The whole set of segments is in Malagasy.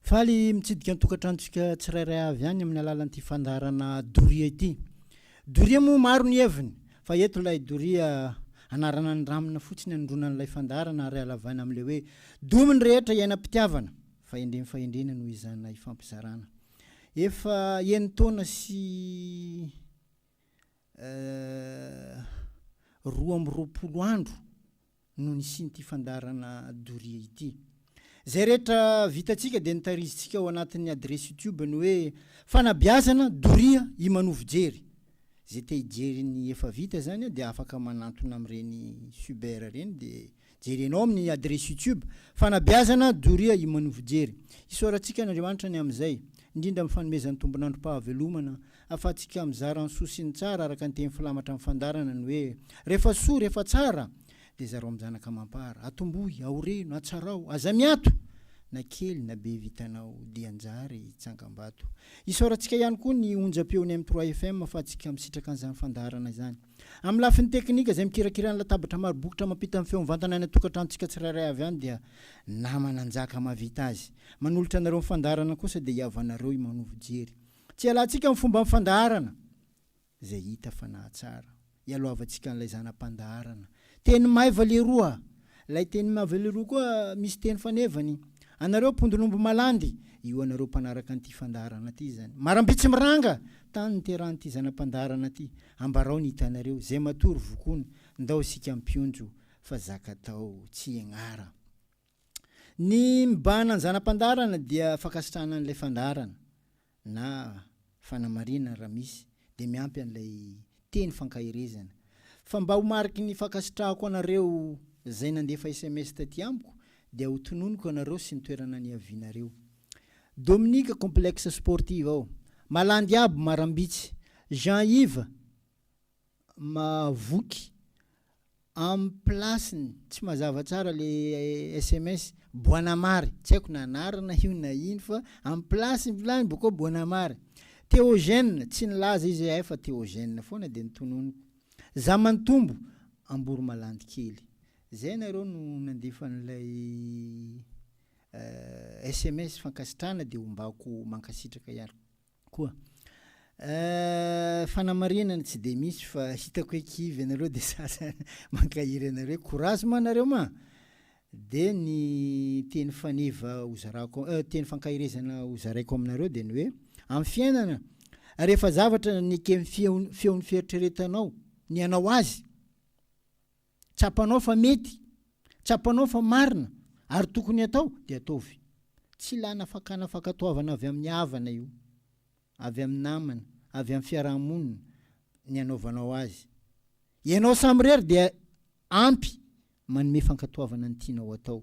Faly mitsidika ny tokantranontsika tsirairay avy any amin'ny alalan'ity fandaharana doria ity. Doria moa maro ny heviny, fa eto ilay doria anarana ny ramina fotsiny anondronan'ilay fandaharana ary halavaina amin'ilay hoe domy ny rehetra iainam-pitiavana, fahendreny fahendrena no izana ifampizarana. Efa enin-taona sy roa amby roapolo andro no nisian'ity fandaharana doria ity. Izay rehetra vitantsika dia notarizintsika ao anatin'ny adiresy youtube ny hoe Fanabeazana doria i Manovo Jery. Izay te hijery ny efa vita izany dia afaka manantona amin'ireny suber ireny dia jerenao amin'ny adiresy youtube Fanabeazana doria i Manovo Jery. Isaorantsika an'Andriamanitra ny amin'izay, indrindra amin'ny fanomezany tombon'androm-pahavelomana Afa-tsika mizara ny soa sy ny tsara araka ny teny filamatra amin'ny fandarana ny hoe, Rehefa soa, rehefa tsara, dia zarao amin'ny zanaka amam-para. Atombohy, aoreno, atsarao, aza miato! Na kely na be vitanao, dia njary tsangambato. Isaorantsika ihany koa ny onjam-peon'ny M trois FM afa-tsika misitraka an'izany fandaharana izany. Amin'ny lafiny teknika, izay mikirakira ny latabatra maro bokotra mampita ny feo mivantana any an-tokantranontsika tsirairay avy any dia Namananjaka Mahavita azy. Manolotra anareo ny fandaharana kosa dia i Havanareo i Manovo Jery. Tsy hialantsika amin'ny fomban'ny fandaharana izay hita fa nahatsara. Ialohavantsika an'ilay zana-pandaharana. Teny maiva leroa. Ilay teny maiva leroa koa misy teny fanevany. Anareo mpondron'omby malandy, io anareo mpanaraka an'ity fandaharana ity izany. Marambe tsy miranga! Tany niterahan'ity zana-pandaharana ity. Ambarao ny hitanareo, izay matory vokoana. Ndao isika mpionjo fa zaka atao tsy ianara. Ny mibahana ny zana-pandaharana dia fankasitrahana an'ilay fandaharana na fanamarinana raha misy dia miampy an'ilay teny fankaherezana. Fa mba ho mariky ny fankasitrahako anareo izay nandefa sms taty amiko dia ho tononiko anareo sy ny toerana niavianareo. Dominique complexe sportive ao. Malandy aby marambitsy. Jean Yves Mahavoky am place-ny. Tsy mazava tsara le sms. Boanamary. Tsy haiko na anarana io na ino fa am place-ny vilany bôkô Boanamary. Théogène, tsy nilaza izy ahy fa Théogène foana de notononiko. Zamantombo, Amboromalandikely. Zay nareo no nandefa an'ilay sms fankasitrahana de ombako mankasitraka ihany. Koa. Ahh fanamarinana tsy de misy fa hitako hoe kivy ianareo de sasa mankahery anareo hoe courage ma nareo ma! de ny teny faneva hozarako euh teny fankaherezana hozaraiko aminareo de ny hoe amin'ny fiainana rehefa zavatra neken'ny feon'ny feon'ny fieritreretanao ny hanao azy tsapanao fa mety, tsapanao fa marina ary tokony atao dia ataovy. Tsy ilana fakana fankatoavana avy amin'ny havana io, avy amin'ny namana, avy amin'ny fiaraha-monina ny anaovanao azy. Ianao samirery dia ampy manome fankatoavana ny tianao atao.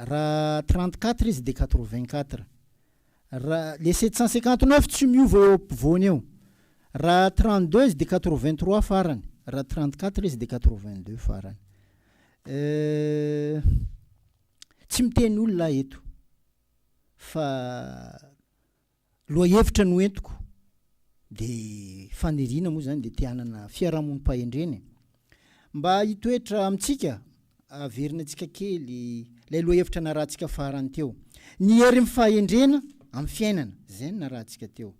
Raha trente quatre izy dia quatre vingt quatre. Raha le sept cent cinquante neuf tsy miova eo ampovoany eo. Raha trente deux izy dia quatre vingt trois farany. Raha trente quatre izy dia quatre vingt deux farany. Euh, tsy miteny olona aho eto fa Lohahevitra noentiko dia faniriana moa izany dia te hanana fiarahamonim-pahendrena e. Mba hitoetra amintsika, averina antsika kely ilay lohahevitra narahantsika farany teo. Ny herin'ny fahendrena amin'ny fiainana, izay no narahantsika teo.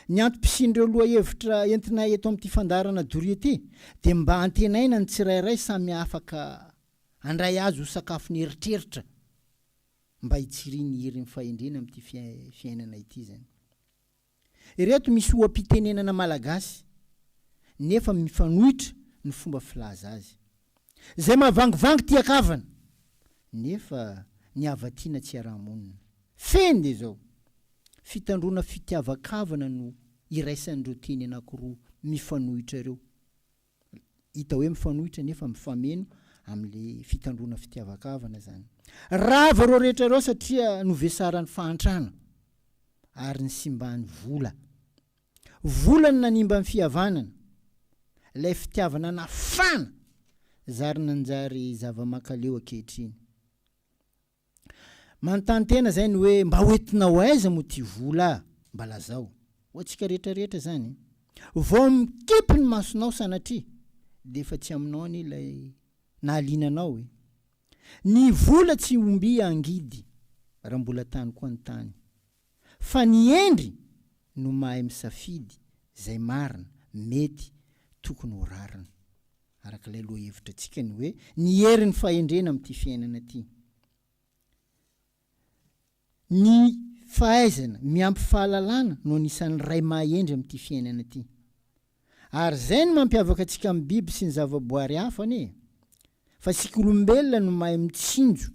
Ny antom-pisian'ireo lohahevitra entinay eto amin'ity fandaharana doria ity dia mba hantenaina ny tsirairay samy afaka handray azy ho sakafon'eritreritra. mba hitsirian'ny herin'ny fahendrena amin'ity fiainana ity izany. Ireto misy oha-pitenenana malagasy nefa mifanohitra ny fomba filaza azy. Izay mahavangivangy tian-kavana, nefa ny havatiana tsy iaraha-monina. Fehiny dia izao, fitandroana fitiavan-kavana no iraisan'ireo teny anankiroa mifanohitra ireo. hita hoe mifanohitra nefa mifameno amin'le fitandroana fitiavan-kavana zany. Rava ireo rehetra ireo satria novesaran'ny fahantrana ary nisimban'ny vola. Vola no nanimba ny fihavanana, ilay fitiavana nafana zary nanjary zava-makaleo ankehitriny. Manontany tena zay ny hoe mba hoentinao aiza moa ty vola a? Mba lazao. Ho antsika rehetra rehetra zany. Vao mikipy ny masonao sanatria dia efa tsy aminao anie ilay nahaliana anao e. Ny vola tsy ombia angidy raha mbola tany koa ny tany. fa ny hendry no mahay misafidy izay marina, mety, tokony ho rariny. Araka ilay lohahevitratsika ny hoe ny herin'ny fahendrena amin'ity fiainana ity. Ny fahaizana miampy fahalalana no anisan'ny iray maha-hendry amin'ity fiainana ity. Ary izay no mampiavaka antsika amin'ny biby sy ny zavaboary hafa anie e! Fa isika olombelona no mahay mitsinjo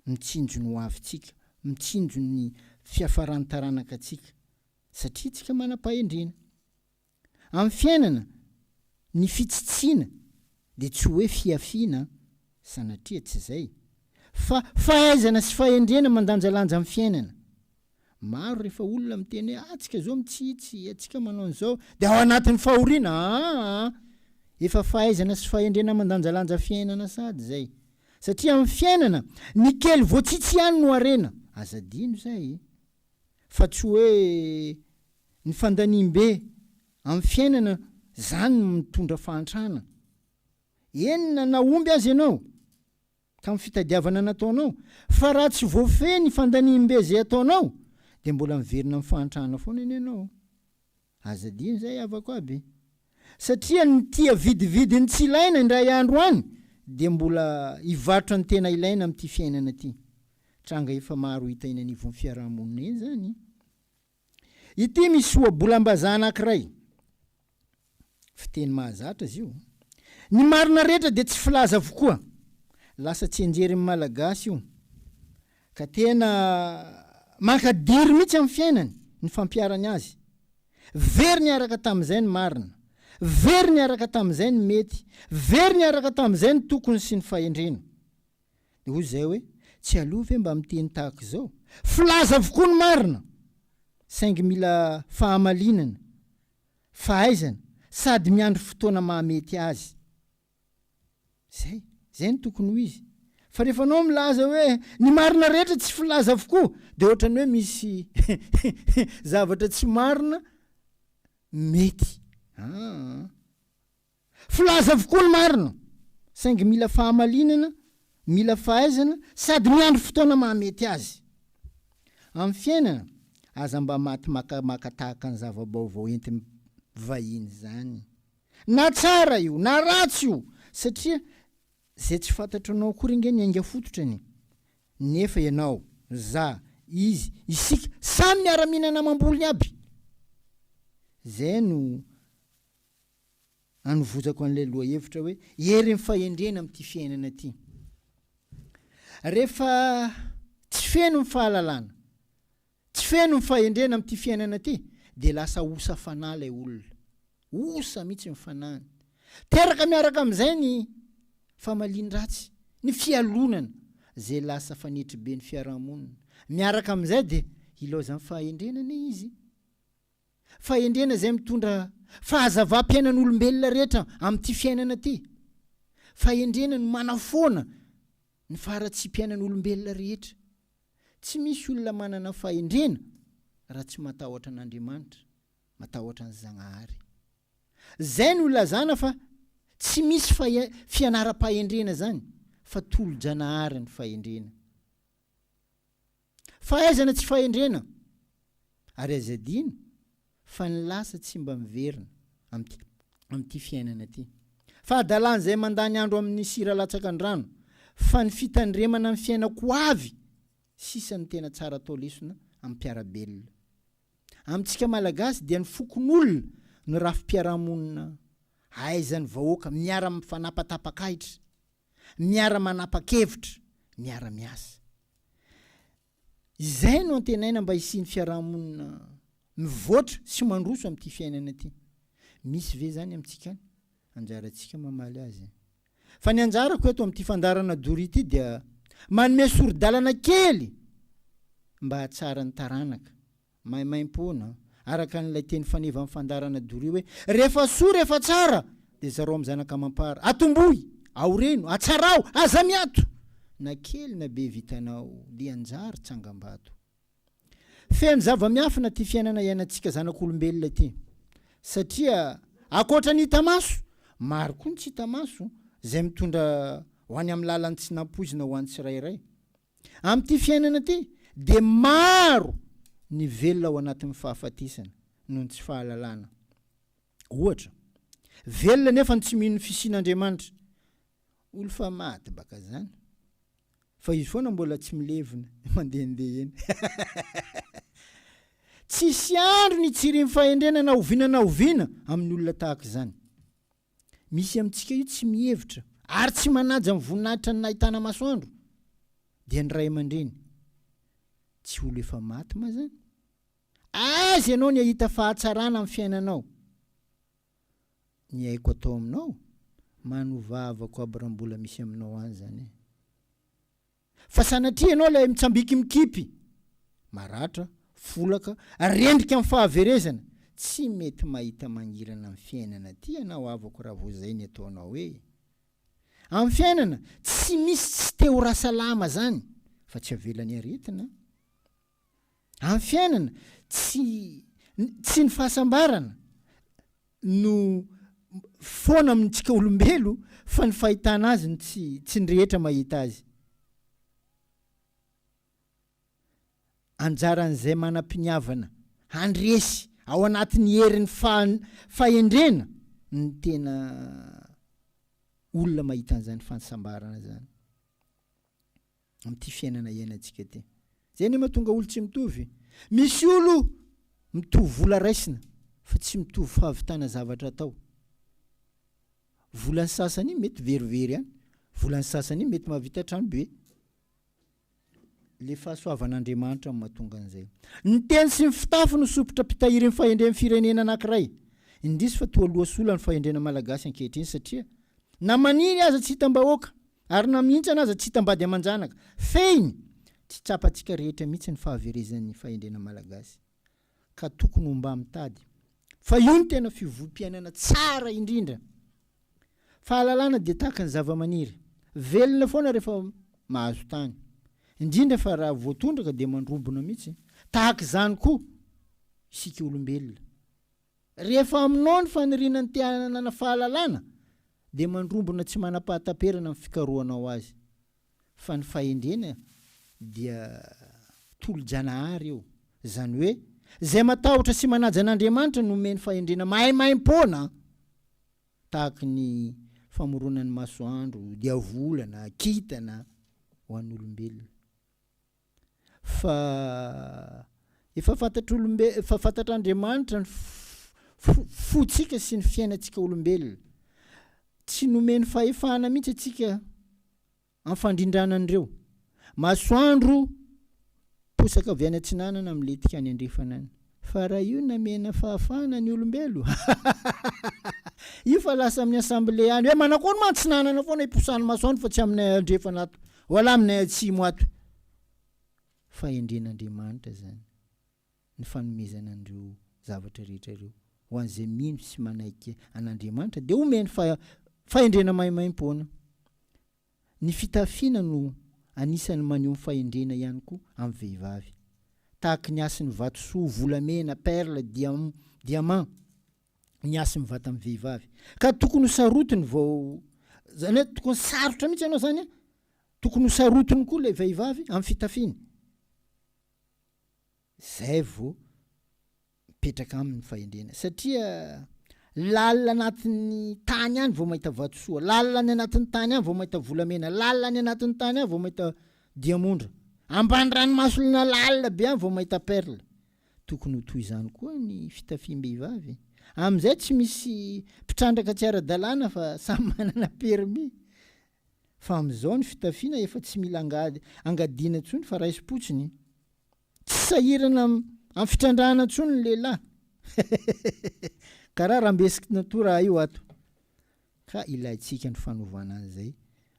mitsinjo ny ho avintsika, mitsinjo ny fiafaran'ny taranakatsika, satria tsika manam-pahendrena. Amin'ny fiainana, ny fitsitsiana dia tsy hoe fihafiana an, sanatria tsy izay, fa fahaizana sy fahendrena mandanjalanja amin'ny fiainana, Maro rehefa olona miteny hoe atsika zao mitsitsy, atsika manao an'izao dia ao anatin'ny fahoriana aa! Efa fahaizana sy fahendrena mandanjalanja fiainana sady zay. Satria amin'ny fiainana, ny kely voatsitsy ihany no harena. Aza adino izay. Fa tsy hoe ny fandaniam-be amin'ny fiainana zany no mitondra fahantrana. Eny na nahomby aza ianao. ka ny fitadiavana nataonao, fa raha tsy voafehy ny fandaniam-be izay ataonao dia mbola miverina amin'ny fahantrana foana anie ianao. Aza adino izay havako aby, satria ny tia vidividy ny tsy ilaina indray andro any dia mbola hivarotra ny tena ilaina amin'ity fiainana ity. Tranga efa maro hita eny anivon'ny fiaraha-monina eny izany. Ity misy ohabolam-bazaha anankiray. Fiteny mahazatra izy io. Ny marina rehetra dia tsy filaza avokoa. Lasa tsy enjerin'ny Malagasy io. Ka tena mankadiry mihitsy amin'ny fiainany ny fampiharany azy. Very niaraka tamin'izay ny marina. Very niaraka tamin'izay ny mety. Very niaraka tamin'izay ny tokony sy ny fahendrena. Dia hoy izahay hoe, Tsy aloha ve mba miteny tahaka izao? Filaza avokoa ny marina, saingy mila fahamalinana, fahaizana, sady miandry fotoana mahamety azy. Izay, izay no tokony ho izy. Fa rehefa anao milaza hoe ny marina rehetra tsy filaza avokoa, dia ohatran'ny hoe misy zavatra tsy marina mety. Aa. Filaza avokoa ny marina, saingy mila fahamalinana, mila fahaizana sady miandry fotoana mahamety azy. Amin'ny fiainana, aza mba maty makamaka tahaka ny zava-baovao entin'ny vahiny izany. Na tsara io, na ratsy io, satria izay tsy fantatro anao akory ange ny ainga fototrany. Nefa ianao, za, izy, isika, samy miara-mihinana amam-bolony aby. Izay no anovozako an'ilay lohahevitra hoe herin'ny fahendrena amin'ity fiainana ity. Rehefa tsy feno ny fahalalana, tsy feno ny fahendrena amin'ity fiainana ity, dia lasa osa fanahy ilay olona. Osa mihitsy ny fanahiny. Teraka miaraka amin'izay ny famalian-dratsy, ny fialonana, izay lasa fanetriben'ny fiarahamonina. Miaraka amin'izay dia hilaozan'ny fahendrena anie izy. Fahendrena izay mitondra fahazavam-piainan'olombelona rehetra amin'ity fiainana ity. Fahendrena no manafoana ny faharatsiam-piainan'olombelona rehetra. Tsy misy olona manana fahendrena raha tsy matahotra an'Andriamanitra, matahotra ny Zagnahary. Izay no ilazana fa tsy misy fianaram-pahendrena izany fa tolo-janahary ny fahendrena. Fahaizana tsy fahendrena, ary aza adino fa ny lasa tsy mba miverina amin'ity amin'ity fiainana ity. Fahadalana izay mandany andro amin'ny sira latsaka an-drano, fa ny fitandremana ny fiainako ho avy sisa no tena tsara atao lesona amim-piara-belona. Amintsika Malagasy dia ny fokonolona no rafi-piarahamonina ahaizan'ny vahoaka miara-mifanapatapaka ahitra. miara-manapa-kevitra, miara-miasa. Izay no antenaina mba hisian'ny fiaraha-monina mivoatra sy mandroso amin'ity fiainana ity. Misy ve izany amintsika any? Anjarantsika mamaly azy. Fa ny anjarako eto amin'ity fandaharana doria ity dia manome sori-dalana kely mba hahatsara ny taranaka. Maimaimpoana, araka an'ilay teny faneva amin'ny fandaharana doria hoe, Rehefa soa, rehefa tsara, dia zarao amin'ny zanaka amam-para. Atombohy! Aoreno! Atsaraho! Aza miato! Na kely na be vitanao, lian-jary, tsangambato. Feno zava-miafina ity fiainana iainantsika zanak'olombelona ity. Satria, ankoatra ny hita maso, maro koa ny tsy hita maso, izay mitondra ho any amin'ny lalan'ny tsy nampoizina ho an'ny tsirairay. Amin'ity fiainana ity dia maro ny velona ao anatin'ny fahafatesana noho ny tsy fahalalana. Ohatra, velona nefa ny tsy mino ny fisian'Andriamanitra. Olo fa maty baka zany. Fa izy foana mbola tsy milevina, mandehandeha eny. Tsisy andro ny hitsirin'ny fahendrena na oviana na oviana amin'ny olona tahaka izany. misy amintsika io tsy mihevitra ary tsy manaja ny voninahitra ny nahitana masoandro dia ny ray aman-dreny tsy olo efa maty ma zany aiza ianao ny ahita fahatsarana amin'ny fiainanao ny aiko atao aminao manovavako aby raha mbola misy aminao any zany e Fa sanatria ianao ilay mitsambiki mikipy, maratra, folaka, rendrika amin'ny fahaverezana, tsy mety mahita mangirana amin'ny fiainana ity ianao havako raha vao izay ny ataonao hoe. Amin'ny fiainana, tsy misy tsy te ho rasalama zany, fa tsy avelan'ny aretina an! Amin'ny fiainana, tsy tsy ny fahasambarana no foana amintsika olombelo fa ny fahitana azy no tsy tsy ny rehetra mahita azy. Anjaran'izay manam-piniavana handresy ao anatin'ny herin'ny fahendrena ny tena olona mahita an'izany fahasambarana izany. amin'ity fiainana iainantsika ity. Izay anie mahatonga olo tsy mitovy. Misy olo mitovy vola raisina fa tsy mitovy fahavitana zavatra atao. Volan'ny sasany mety verivery any, volan'ny sasany mety mahavita trano be. Le fahasoavan'Andriamanitra no mahatonga an'izay. Ny teny sy ny fitafy no sompitra mpitahirin'ny fahendren'ny firenena anankiray. Indrisy fa toa loha sola ny fahendrena malagasy ankehitriny satria na maniry aza tsy hitam-bahoaka Ary na mihintsana aza tsy hitambady aman-janaka. Fehiny! Tsy tsapantsika rehetra mihitsy ny fahaverezan'ny fahendrena malagasy. Ka tokony ho mba mitady. Fa io no tena fiovoam-piainana tsara indrindra. Fahalalana dia tahaka ny zavamaniry. Velona foana rehefa mahazo tany. Indrindra fa raha voatondraka dia mandrobona mihitsy. Tahaka izany koa isika olombelona. Rehefa aminao ny faniriana ny te-hanana fahalalana, dia mandrombona tsy manam-pahataperana ny fikarohanao azy, fa ny fahendrena dia tolo-janahary io, izany hoe, izay matahotra sy manaja an'Andriamanitra no omeny fahendrena maimaim-poana, tahaka ny famoronan'ny masoandro, diavolana, kintana, ho an'olombelona. fa efa fantatr'olombe efa fantatr'Andriamanitra ny fo fontsika sy ny fiainantsika olombelona. Tsy nomeny fahefana mihitsy antsika am'fandrindrana an'ireo. Masoandro posaka avy any atsinanana milentika any andrefana any. Fa raha io namena fahafahana ny olombelo io fa lasa amin'ny assemblée any hoe manakory moa antsinanana foana iposany maso any fa tsy aminay andrefana ato wala aminay atsimo ato fahendren'Andriamanitra zany ny fanomezana an'ireo zavatra rehetra ireo ho an'izay mino sy manaiky an'Andriamanitra dia omeny fa fahendrena maimaimpoana Ny fitafiana no anisan'ny maneho ny fahendrena ihany koa amin'ny vehivavy. Tahaky ny hasin'ny vatosoa, volamena, perle, diamant, ny hasin'ny vatan'ny vehivavy. Ka tokony ho sarotiny vao, izany hoe tokony sarotra mihitsy ianao izany an! Tokony ho sarotiny koa ilay vehivavy amin'ny fitafiany. Izay vao. mipetraka aminy fahendrena satria lalina anatin'ny tany any vao mahita vatosoa lalina any anatin'ny tany any vao mahita volamena lalina any anatin'ny tany any vao mahita diamondra ambany ranomasolona lalina be any vao mahita perle tokony ho toy izany koa ny fitafiam-behivavy e. amin'izay tsy misy mpitrandraka tsy ara-dalàna fa samy manana permis fa amin'izao ny fitafiana efa tsy mila angady angadiana intsony fa raisim-potsiny Tsy sahirana amin'ny fitrandrahana intsony ny lehilahy. Karaha rambesiky natoraha io ato. Ka ilaintsika ny fanovana an'izay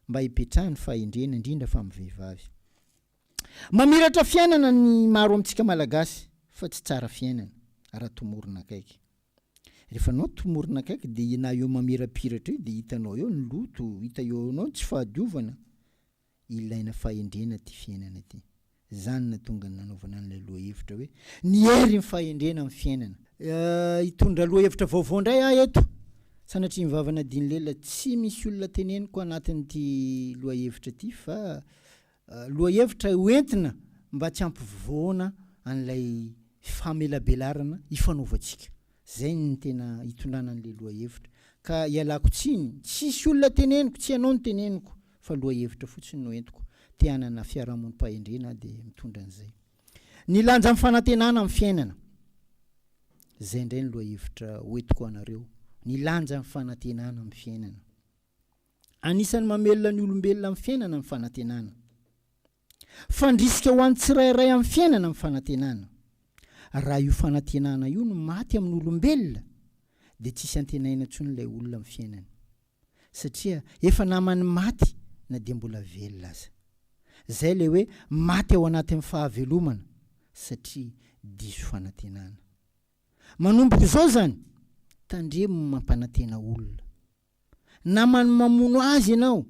mba hipetrahan'ny fahendrena indrindra fa amin'ny vehivavy. Mamiratra fiainana ny maro amintsika Malagasy fa tsy tsara fiainana raha tomorina akaiky. Rehefa anao tomorina akaiky dia na eo mamirapiratra eo dia hitanao eo ny loto, hita eo anao ny tsy fahadiovana. ilaina fahendrena ity fiainana ity. Izany nahatonga ny nanaovana an'ilay lohahevitra hoe Ny herin'ny fahendrena amin'ny fiainana. Hitondra lohahevitra vaovao indray aho eto. Sanatrian'i Vava Nadine Lela, Tsy misy olona teneniko anatin'ity lohahevitra ity fa lohahevitra hoentina mba tsy hampivoana an'ilay famelabelarana ifanaovantsika. Izay no tena hitondrana an'ilay lohahevitra. Ka ialako tsiny, tsisy olona teneniko, tsy ianao no teneniko. fa lohahevitra fotsiny no entiko, te hanana fiarahamonim-pahendrena aho dia mitondra an'izay. Ny lanja amin'ny fanantenana amin'ny fiainana. Izay indray ny lohahevitra hoentiko ho anareo, ny lanja amin'ny fanantenana amin'ny fiainana. Anisan'ny mamelona ny olombelona amin'ny fiainana ny fanantenana. Fandrisika ho an'ny tsirairay amin'ny fiainana ny fanantenana. Raha io fanantenana io no maty amin'ny olombelona dia tsisy antenaina intsony ilay olona amin'ny fiainany. Satria efa naman'ny maty na dia mbola velona aza. Izay ilay hoe maty ao anatin'ny fahavelomana satria diso fanantenana. Manomboka izao izany, tandremo ny mampanantena olona. namany mamono azy ianao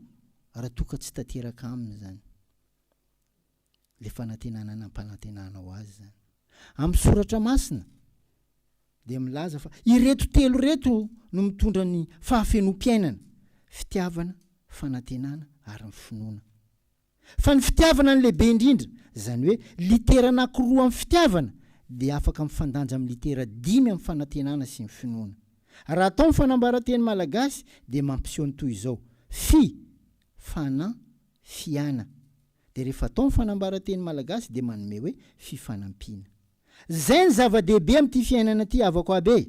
raha toa ka tsy tanteraka aminy izany ilay fanantenana nampanantenanao azy izany. Amin'ny soratra masina dia milaza fa ireto telo ireto no mitondra ny fahafenoam-piainana, fitiavana, fanantenana ary ny finoana. Fa ny fitiavana no lehibe indrindra, izany hoe litera anankiroa amin'ny fitiavana dia afaka mifandanja amin'ny litera dimy amin'ny fanantenana sy ny finoana. Raha atao ny fanambaran-teny malagasy dia mampiseho ny toy izao, fi, fana, fiana. Dia rehefa atao ny fanambaran-teny malagasy dia manome hoe fifanampiana. Izay no zava-dehibe amin'ity fiainana ity havako aby e!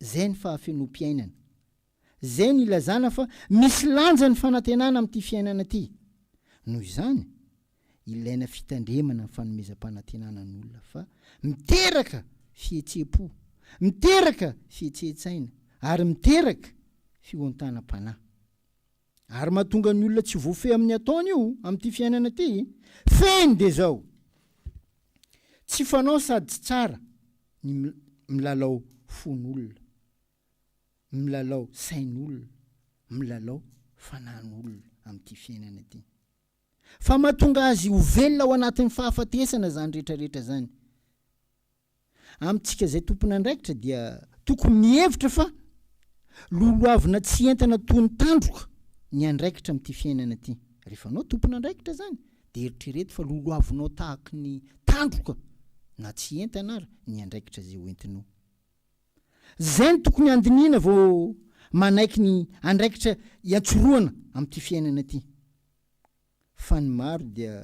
Izay ny fahafenoam-piainana. Izay no ilazana fa misy lanja ny fanantenana amin'ity fiainana ity. Noho izany, ilaina fitandremana ny fanomezam-panantenana ny olona fa miteraka fihetseham-po, miteraka fihetsehentsaina ary miteraka fihontanam-panahy. Ary mahatonga ny olona tsy voafehy amin'ny ataony io amin'ity fiainana ity. Fehiny dia izao, tsy fanao sady tsy tsara ny milalao fon'olona, milalao sain'olona, milalao fanan'olona amin'ity fiainana ity. Fa mahatonga azy ho velona ao anatin'ny fahafatesana izany rehetra rehetra izany. Amintsika izay tompon'andraikitra dia tokony mihevitra fa lolohavina tsy entana toy ny tandroka ny andraikitra amin'ity fiainana ity. Rehefa anao tompon'andraikitra izany dia eritrereto fa lolohavinao tahaka ny tandroka na tsy entana ary ny andraikitra izay hoentinao. Izay no tokony handinihina vao manaiky ny andraikitra iantsorohana amin'ity fiainana ity. fa ny maro dia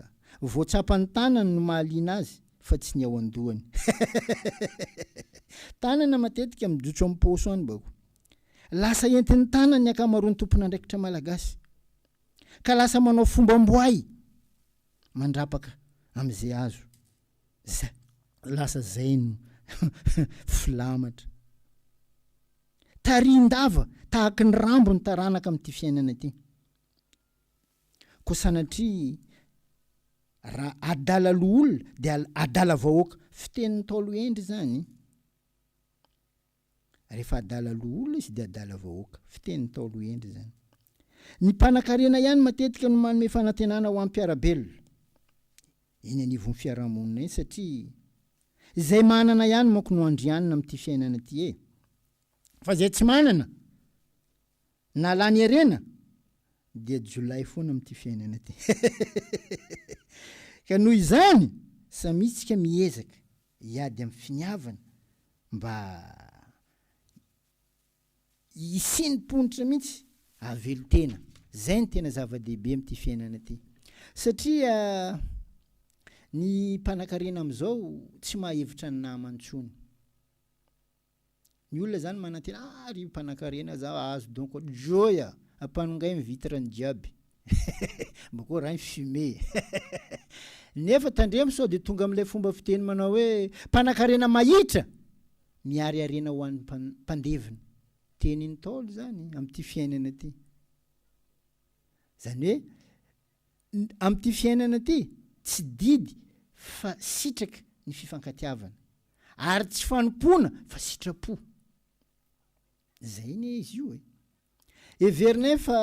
vao tsapany tanany no mahaliana azy fa tsy ny ao an-dohany tanana matetika mijotso amin'ny paosy any bako lasa entin'ny tanany ny ankamaroan'ny tompon'andraikitra malagasy ka lasa manao fombam-boay mandrapaka amin'izay azo zay lasa zay no filamatra tarihin-dava tahaky ny rambo ny taranaka amin'ity fiainana ity Koa sanatria raha adala loholona dia adala vahoaka. Fitenin'ny Ntaolo Hendry izany. Rehefa adala loholona izy dia adala vahoaka. Fitenin'ny Ntaolo Hendry izany. Ny mpanankarena ihany matetika no manome fanantenana ho an'ny mpiara-belona eny anivon'ny fiarahamonina eny satria izay manana ihany manko no andrianina amin'ity fiainana ity e! Fa izay tsy manana na lany harena dia jiolahy foana amin'ity fiainana ity ka noho izany samia tsika miezaka hiady amin'ny finiavana mba hisian'ny ponitra mihitsy havelon-tena zay no tena zava-dehibe amin'ity fiainana ity satria ny mpanankarena amin'izao tsy mahevitra ny namany intsony Ny olona zany manantena ah ry mpanakarena za ahazo don ko joy a! ampanongay ny vitre ny jiaby mba ko raha ny fumée nefa tandremo sao de tonga amin'ilay fomba fiteny manao hoe mpanakarena mahitra miariarena ho an'ny mpandevina tenin'ny ntaolo zany amin'ity fiainana ity zany hoe Amin'ity fiainana ity, tsy didy fa sitraka ny fifankatiavana, ary tsy fanompoana fa sitrapo. Izay anie izy io e! Heverinay fa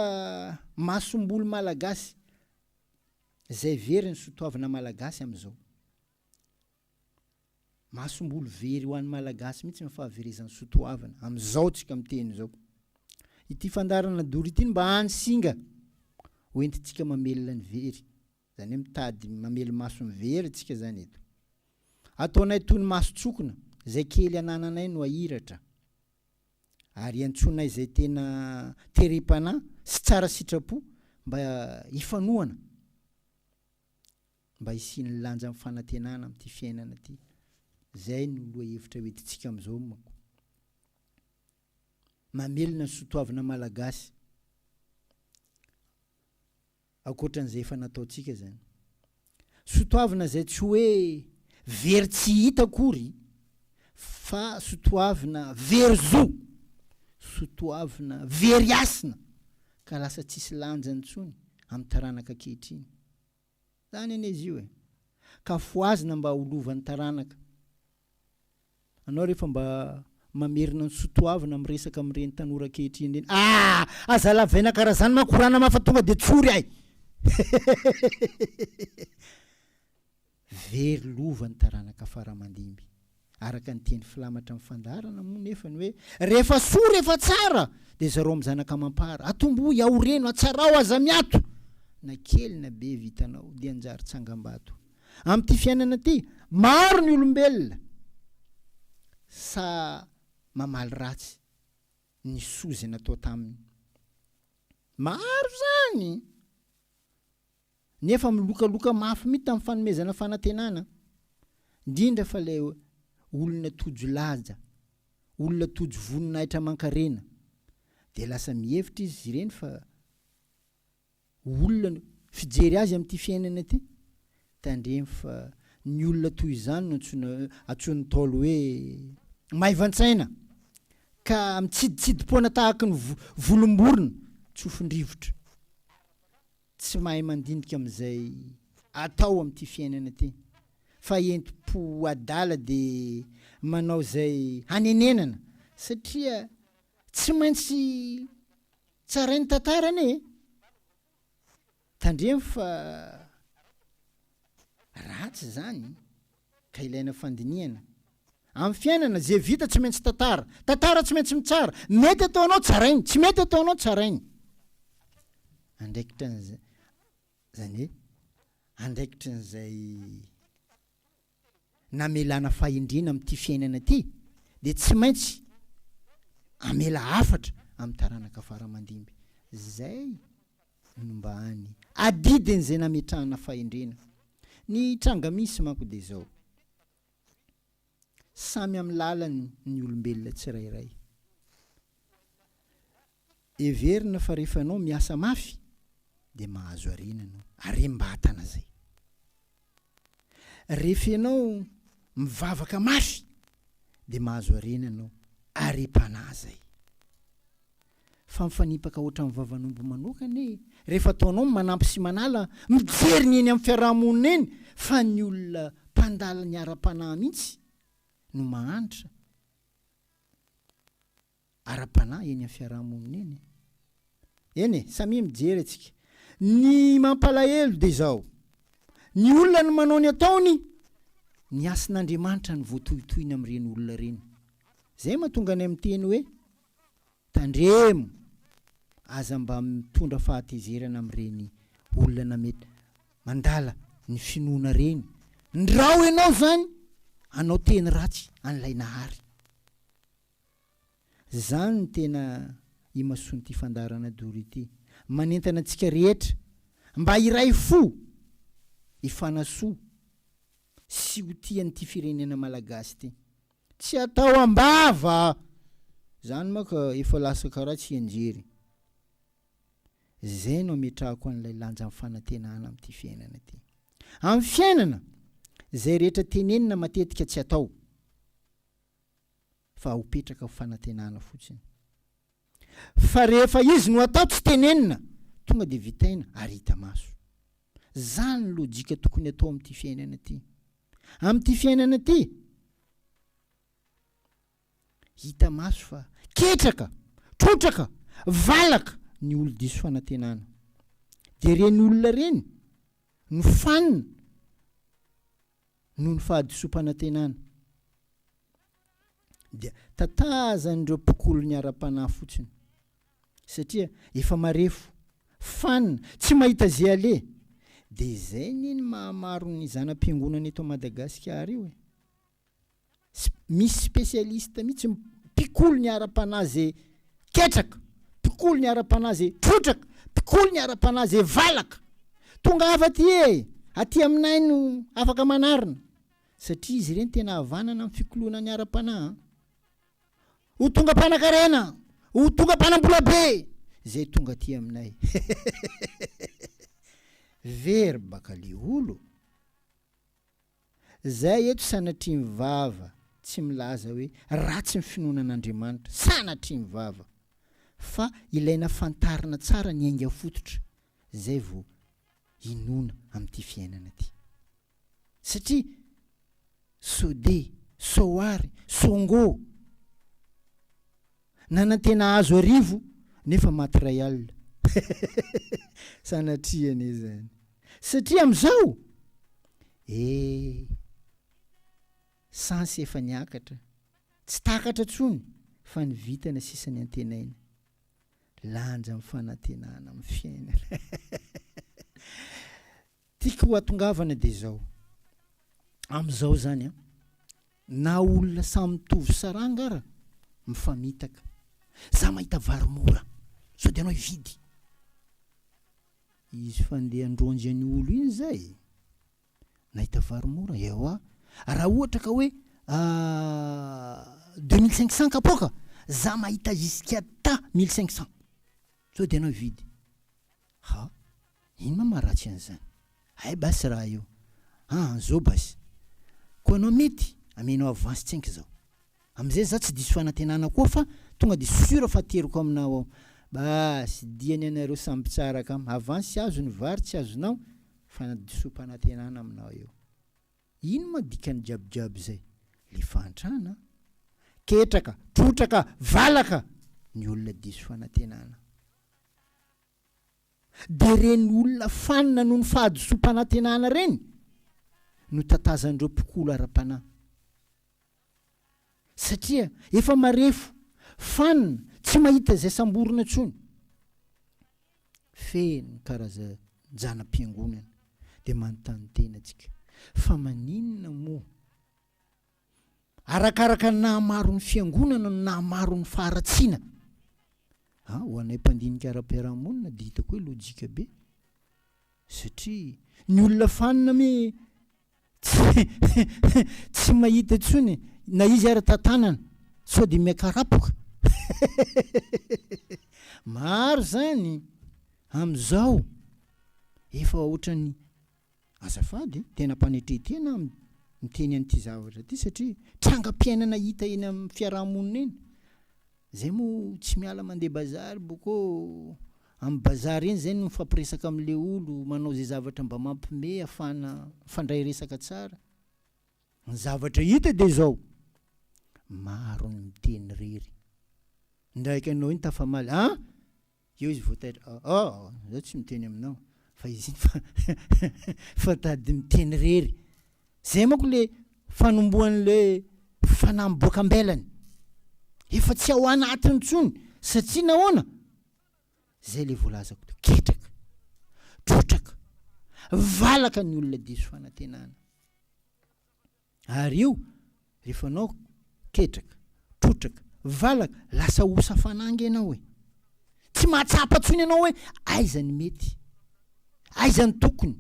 masomboly malagasy izay very ny sotoavina malagasy amin'izao. Masomboly very ho an'ny Malagasy mihitsy ny fahaverezan'ny soatoavina amin'izao tsika miteny izao. Ity fandaharana dory ity no mba hany singa ho entintsika mamelona ny very. Izany hoe mitady mamelo-maso ny very tsika izany eto. Ataonay toy ny maso tsokina, izay kely anananay no ahiratra. Ary iantsoanay izay tena terem-panahy sy tsara sitrapo mba hifanohana. mba hisian'ny lanjan'ny fanantenana amin'ity fiainana ity. Izay no lohahevitra hoentintsika amin'izao manko. Mamelona ny soatoavina malagasy. Ankoatran'izay efa nataontsika izany. Soatoavina izay tsy hoe very tsy hita akory fa soatoavina very zo, soatoavina very hasina ka lasa tsisy lanjany intsony amin'ny taranaka ankehitriny. Tany anie izy io e. Ka fohazina mba ho lovan'ny taranaka. Anao rehefa mba mamerina ny soa toavina miresaka amin'ireny tanora ankehitriny ireny. Aa! Aza lavaina karaha izany manko ra nama fa tonga dia tsory ay! Very lova ny taranaka faramandimby. Araka ny teny filamatra amin'ny fandaharana moa nefa ny hoe, Rehefa soa, rehefa tsara, dia zarao amin'ny zanaka amam-para. Atombohy, aoreno, atsarao, aza miato! Na kely na be vitanao, dia anjary tsangam-bato. Amin'ity fiainana ity, maro ny olombelona sa mamaly ratsy ny soa izay natao taminy. Maro izany! Nefa milokaloka mafy mihitsy tamin'ny fanomezana fanantenana, indrindra fa ilay olona tojo laja, olona tojo voninahitra aman-karena. Dia lasa mihevitra izy ireny fa ho olona no fijery azy amin'ity fiainana ity. Tandremo fa ny olona toy izany no antsoina, antsoin'ny Ntaolo hoe maivan-tsaina, ka mitsiditsidimpoana tahaka ny volom-borona tsofin-drivotra. tsy mahay mandinika amin'izay atao amin'ity fiainana ity fa entim-po adala dia manao izay hanenenana satria tsy maintsy tsarain'ny tantara anie e! Tandremo fa ratsy izany. ka ilaina fandinihana Amin'ny fiainana, izay vita tsy maintsy tantara. Tantara tsy maintsy mitsara. Mety ataonao, tsarainy. Tsy mety ataonao, tsarainy. Andraikitra an'izay. Izany hoe, andraikitra an'izay namelana fahendrena amin'ity fiainana ity, dia tsy maintsy amela hafatra amin'ny taranaka faramandimby. Izay no mba any adidiny zay nametrahana fahendrena. Ny tranga misy manko dia zao, samy amin'ny lalany ny olombelona tsirairay. Heverina fa rehefa ianao miasa mafy dia mahazo harena ianao, harem-batana zay. Rehefa ianao mivavaka mafy dia mahazo harena ianao ary hipanahy zay. Fa mifanipaka ohatran'ny vavan'omby manokana e! Rehefa ataonao ny manampy sy manala, mijery ny eny amin'ny fiarahamonina eny fa ny olona mpandala ny ara-panahy mihitsy no mahantra. ara-panahy eny amin'ny fiaraha-monina eny. Eny e, samia mijery antsika. Ny mampalahelo dia izao, ny olona no manao ny ataony, ny hasin'Andriamanitra no voatohitohina amin'ireny olona ireny. Izay no mahatonga anay miteny hoe, tandremo, aza mba mitondra fahatezerana amin'ireny olona mety mandala ny finoana ireny. Ndrao ianao izany hanao teny ratsy an'ilay Nahary. Zany no tena imasoan'ity fandaharana Doro ity. Manentana antsika rehetra mba hiray fo, hifanasoa sy ho tia an'ity firenena Malagasy ity. Tsy atao am-bava! Zany manko efa lasa karaha tsy hianjery. Zay no ametrahako an'ilay lanjan'ny fanantenana amin'ity fiainana ity. Amin'ny fiainana, zay rehetra tenenina matetika tsy atao. fa ho petraka ho fanantenana fotsiny. Fa rehefa izy no atao tsy tenenina, tonga dia vitaina ary hita maso. Zany ny lojika tokony atao amin'ity fiainana ity. Amin'ity fiainana ity, hita maso fa ketraka, trotraka, valaka ny olon-diso fanantenana. Dia ireny olona ireny no fanina noho ny fahadisoam-panantenana, dia tatazan'ireo mpikolony ara-panahy fotsiny, satria efa marefo, fan, tsy mahita ze aleha, dia izay anie ny mahamaro ny zana-piangonana eto Madagasikara io e! Misy spécialiste mihitsy mpikoly ny ara-panahy ze ketraka, mpikoly ny ara-panahy ze trotraka, mpikoly ny ara-panahy ze valaka. Tongava aty e! Aty aminay no afaka manarina. Satria izy ireny tena havanana amin'ny fikoloana ny ara-panahy. Ho tonga mpanakarena, ho tonga mpanambola be zay tonga aty aminay. Very baka le olo. Zay eto sanatria mivava tsy milaza hoe ratsy ny finoana an'Andriamanitra, sanatria mivava, fa ilaina fantarina tsara ny ainga fototra zay vao inoana amin'ity fiainana ty. Satria sode, soary, songo. Nanantena hahazo arivo nefa maty iray alina. Sanatria anie izany. Satria amin'izao eh! Sens efa niakatra. Tsy takatra intsony fa ny vintana sisa ny antenaina. Lanja amin'ny fanantenana amin'ny fiainana. Tiako ho atongavana dia izao, amin'izao izany an, na olona samy mitovy saranga ara, mifamitaka. Za mahita vary mora, sao dia anao hividy. Izy fandeha androanjy an'io olo iny zay, nahita vary mora, ewa, raha ohatra ka hoe deux mille cinq cents kapoaka, za mahita jusqu'à ta mille cinq cents, sao dia anao hividy. Ha? Ino ma maharatsy an'izany? Hay basy raha io. Ha an zao basy. Koa anao mety amenao avance tsenky izao. Amizay za tsy diso fanantenana koa fa tonga de sur fa ateriko aminao ao. Basy, dia ny anareo samy mpitsara kamo. Avance azo ny vary tsy azonao fa na disom-panantenana aminao eo. Ino ma dikan'ny jabojabo izay? Le fahantrana? Ketraka, trotraka, valaka ny olona diso fanantenana. Dia ireny olona fanina noho ny fahadisoam-panantenana ireny no tatazan'ireo mpikolo ara-panahy. Satria efa marefo, fanina, tsy mahita izay samborina intsony. Feno karazan-janam-piangonana dia manontany tena tsika fa maninona moa Arakaraka ny nahamaro ny Fiangonana no nahamaro ny faharatsiana. Ah, ho anay mpandinika ara-piarahamonina dia hitako hoe lojika be. Satria ny olona fanina mi tsy tsy mahita intsony na izy ary tantanana sao dia miakarapoka. Maro izany amin'izao efa ohatran'ny Azafady, tena mpanetretena aho miteny an'ity zavatra ity satria trangam-piainana hita eny amin'ny fiaraha-monina eny. Zay moa tsy miala mandeha bazary boko amin'ny bazary eny zay no mifampiresaka amin'le olo manao zay zavatra mba mampime hafahana mifandray resaka tsara. Ny zavatra hita dia zao, maro ny miteny rery. Indraiky anao iny tafamaly, ah! Eo izy vao taitra, oh oh, izaho tsy miteny aminao, fa izy iny fa fa tady miteny irery. Izay manko ilay fanombohan'ilay fanahy miboaka am-belany. Efa tsy ao anatiny intsony, satria nahoana? Izay ilay voalazako teo, ketraka, trotraka, valaka ny olona diso fanantenana. Ary eo rehefa anao ketraka, trotraka, valaka, lasa osa fananga ianao e! Tsy mahatsapa intsony ianao hoe aiza ny mety, aiza ny tokony,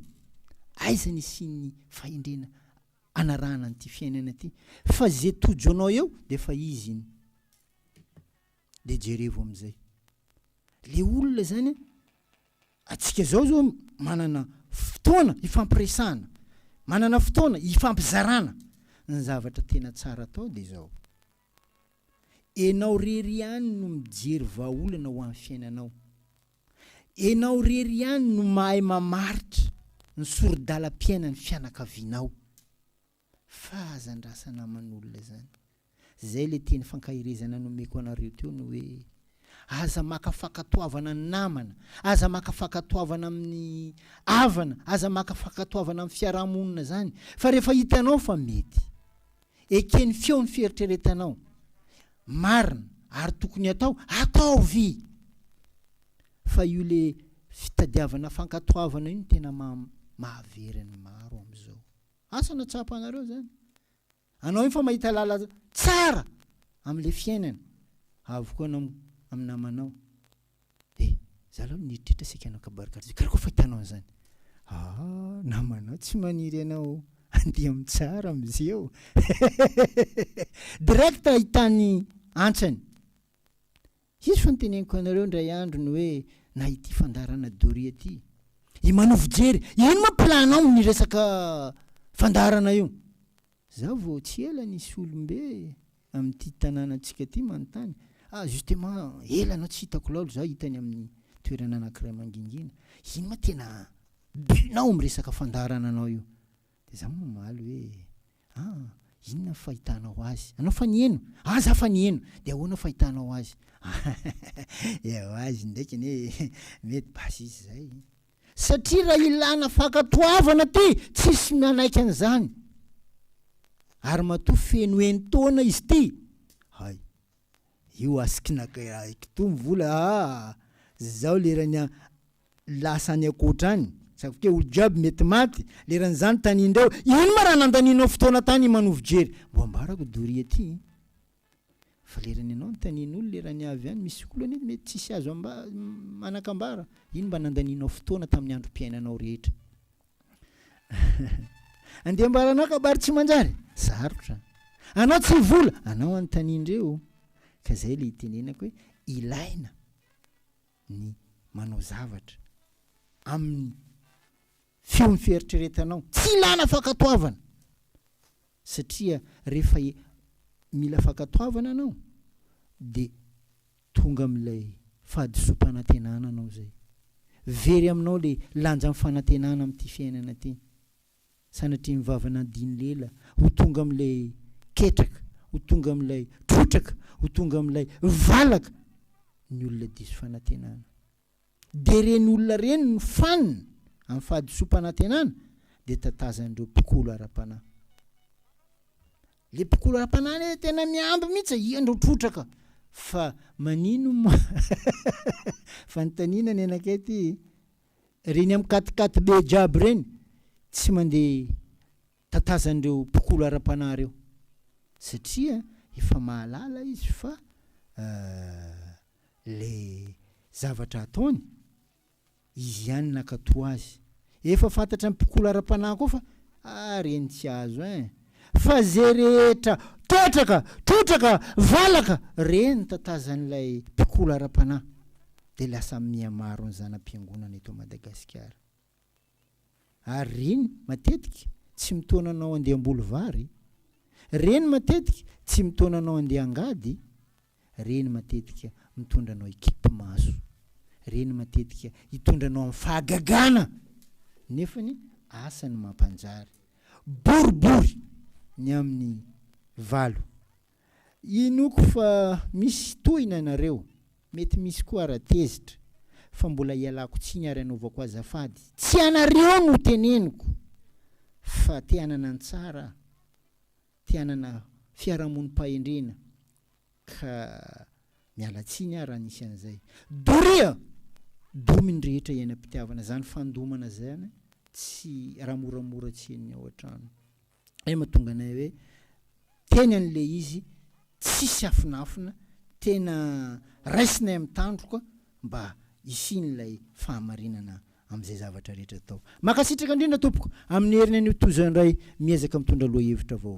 aiza ny hisian'ny fahendrena hanarahana an'ity fiainana ity fa izay tojo anao eo dia efa izy iny. Dia jerevo amin'izay. Ilay olona izany an, Antsika izao izao manana fotoana hifampiresahana, manana fotoana hifampizarana ny zavatra tena tsara atao dia izao, enao rery ihany no mijery vahaolana ho an'ny fiainanao, enao rery ihany no mahay mamaritra ny soridalam-piainan'ny fianakavianao. Fahazandrasana aman'olona zany. Zay le teny fankaherezana nomeko anareo teo ny hoe aza maka fankatoavana ny namana, aza maka fankatoavana amin'ny havana, aza maka fankatoavana amin'ny fiarahamonina zany fa rehefa hitanao fa mety, eken'ny feo ny fieritreretanao, marina ary tokony atao, ataovy! Fa io le fitadiavana fankatoavana io no tena maha mahavery ny maro amizao. Asa na tsapanareo zany. Anao iny fa mahita lala tsara amle fiainana. Avokoa anao am namanao. Eh za aloha nieritreritra saika hanao kabary karaza karaha koa fa hitanao anzany. Ah namanao tsy maniry anao andeha am tsara am ze o. Direct ahitany antsany. Hisy fa noteneniko anareo indray andro ny hoe na ity fandaharana Doria ity. I Manao fijery, ino ma plan-nao amin'ny resaka fandaharana io? Za vao tsy ela nisy olom-be amin'ity tanànantsika ity manontany, ah justement ela anao tsy hitako laolo za hita any amin'ny toerana anankiray mangingina, ino ma tena but-nao amin'ny resaka fandaharananao io? Dia za mamaly hoe. Ah! Inona ny fahitanao azy? Anao fa niheno? Ah! Za fa niheno! De ahoana fahitanao azy? Ewa izy ndraiky anie mety basy izy zay. Satria raha ilana fankatoavana ty, tsisy manaiky an'izany. Ary matoa feno enin-taona izy ty. Hay, io asikina kitoa ny vola ah! Zao lerany lasa any ankoatra any, saika hoe olo jiaby mety maty leran'izany tanin-dreo, ino ma raha nandanianao fotoana tany manovo jery, mbo ambarako doria aty e, fa lerany ianao no tanin'olo lerany avy any misy olo anie mety tsisy azo amba, manakambara, ino mba nandanianao fotoana tamin'ny androm-piainanao rehetra, andeha ambaranao kabary tsy manjary, sarotra, anao tsy vola, anao anontanian-dreo, ka zay le itenenako hoe ilaina, ny manao zavatra amin'ny feon'ny fieritreretanao, tsy ilana fankatoavana satria rehefa mila fankatoavana anao dia tonga amin'ilay fahadisoam-panantenana anao izay. Very aminao ilay lanjan'ny fanantenana amin'ity fiainana ity. Sanatria ny vavan'Andiny lela ho tonga amin'ilay ketraka, ho tonga amin'ilay trotraka, ho tonga amin'ilay valaka ny olona diso fanantenana. Dia ireny olona ireny no fanina amin'ny fahadisoam-panantenana dia tatazan'ireo mpikolo ara-panahy. Le mpikolo ara-panahy le tena miamby mihitsy e, iandrao trotraka. Fa manino ma fanontaniana ny anakay ty? reny am katikaty be jiaby reny tsy mandeha tatazan'ireo mpikolo ara-panahy reo satria efa mahalala izy fa le zavatra ataony izy ihany nakato azy efa fantatra am mpikolo ara-panahy koa fa ah reny tsy azo ein Fa zay rehetra ketraka, trotraka, valaka, reny tatazan'ilay mpikola ara-panahy dia lasa mihamaro ny zana-piangonana eto Madagasikara. Ary reny matetika tsy mitaona anao andeha hamboly vary, reny matetika tsy mitaona anao andeha angady, Reny matetika mitondra anao hikipi-maso. Reny matetika hitondra anao amin'ny fahagagana. Nefany asa ny mampanjary. Boribory ny amin'ny valo. Inoako fa misy tohina nareo, mety misy koa ara tezitra, fa mbola ialako tsiny ary anaovako azafady. Tsy anareo no teneniko fa te hanana ny tsara aho, te hanana fiarahamonim-pahendrena, ka miala tsiny aho raha nisy an'izay. Doria! Domy ny rehetra iainam-pitiavana, izany fandomana izany tsy raha moramora tsy henony ao an-trano. Izay mahatonga anay hoe teny an'ilay izy tsisy afinafina, tena raisinay amin'ny tandroka mba hisian'ilay fahamarinana amin'izay zavatra rehetra atao. Mankasitraka indrindra tompoko amin'ny heriny anio toy izao indray miezaka mitondra lohahevitra vaovao.